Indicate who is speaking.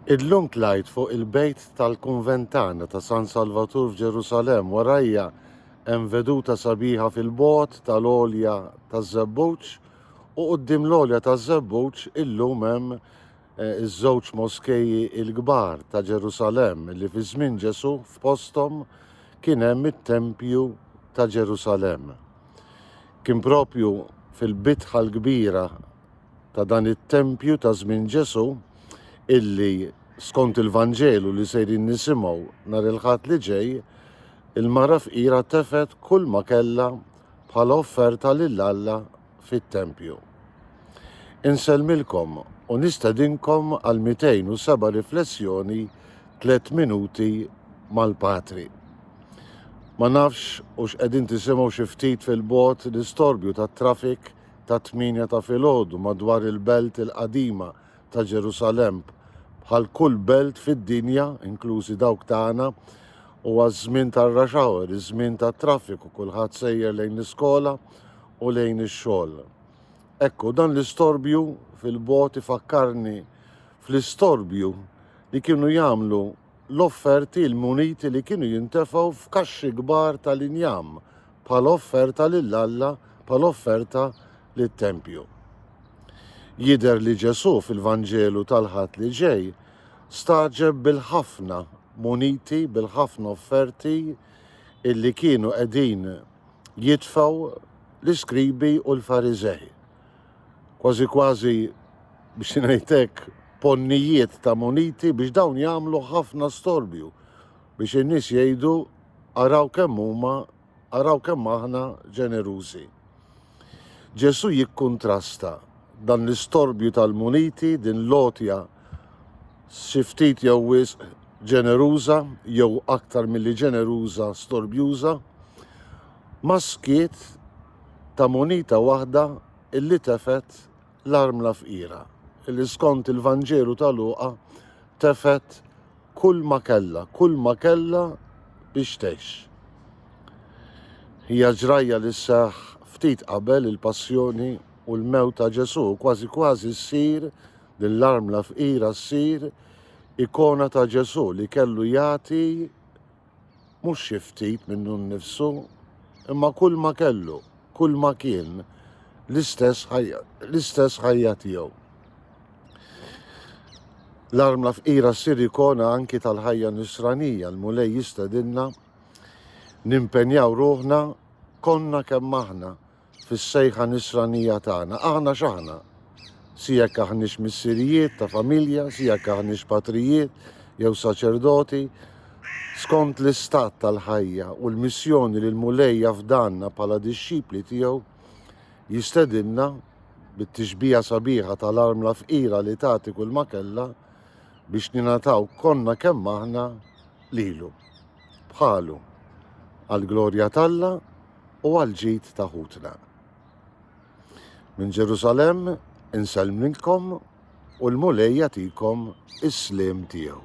Speaker 1: Illum tlajt fuq il-bejt tal-Kunventana ta' San Salvatur f'Ġerusalemm warajja hemm veduta sabiħa fil-bogħod tal-għolja taż-Żebbuġ u quddiem l-għolja taż-Żebbuġ illum hemm eh, iż-żewġ moskeji l-kbar ta' Ġerusalemm li fi żmien Ġesù f'posthom kien hemm it-tempju ta' Ġerusalemm. Kien propju fil-bitħa l-kbira ta' dan it-tempju ta' żmien Ġesù illi skont il-Vanġelu li sejrin nisimgħu nhar il-Ħadd li ġej, il-mara fqira tefet kull ma kellha bħala offerta lil Alla fit-tempju. Insellmilkom u nistedinkom għal 207 riflessjoni 3 minuti mal-Patri. Ma nafx u x'qegħdin tisimgħu xi ftit fil-bot l-istorbju tat-trafik ta' tmienja ta' filgħodu madwar il-belt il-qadima ta' Ġerusalem bħal kull belt fid-dinja, inklużi dawk tagħna, huwa ż-żmien tar-rush hour, iż-żmien tat-traffiku, kulħadd sejjer lejn l-iskola u lejn ix-xogħol. Ekku, dan l-istorbju fil-bogħod ifakkarni fl-istorbju li kienu jagħmlu l-offerti l-muniti li kienu jintefgħu f'kaxxi kbar tal-injam bħala offerta lil Alla bħala offerta lit-tempju. Jidher li Ġesù fil-Vanġelu tal-Ħadd li ġej staġeb bil-ħafna muniti, bil-ħafna offerti illi kienu qegħdin jitfgħu l-iskribi u l-Fariżej, kważi kważi biex ngħid hekk ponnijiet ta' muniti biex dawn jagħmlu ħafna storbju biex in-nies jgħidu araw kemm huma araw kemm aħna ġenerużi. Ġesù jikkuntrasta dan l-istorbju tal-muniti, din l-għotja xi ftit jew wisq ġeneruża jew aktar milli ġeneruża storbjuża, mas-skiet ta' munita waħda illi tefgħet l-armla fqira, illi skont il-Vanġelu ta' Luqa tefgħet kull ma kellha, kull ma kellha biex tgħix. Hija ġrajja li sseħħ ftit qabel il-Passjoni u l-mewt ta' Ġesù, kważi kważi ssir li l-armla fqira ssir ikona ta' Ġesù li kellu jagħti mhux xi ftit minnu nnifsu, imma kull ma kellu, kull ma kien, l-istess ħajja tiegħu. L-armla fqira ssir ikona anki tal-ħajja nisranija, l-Mulej jistedinna nimpenjaw ruħna konna kemm aħna fis-sejħa nisranija tagħna, aħna x'aħna? Si jekk aħniex missirijiet ta' familja, si jekk aħniex patrijiet jew saċerdoti, skont l-istat tal-ħajja u l-missjoni li l-Mulej jafdanna bħala dixxipli tiegħu, jistedinna bit-tixbija sabiħa tal-armla fqira li tagħti kull ma kellha biex ninataw konna kemm aħna lilu, bħalu, għall-glorja t'Alla u għall-ġid ta' ħutna. Minn Ġerusalemm insellmilkom u l-Mulej jagħtikom is-sliem tiegħu.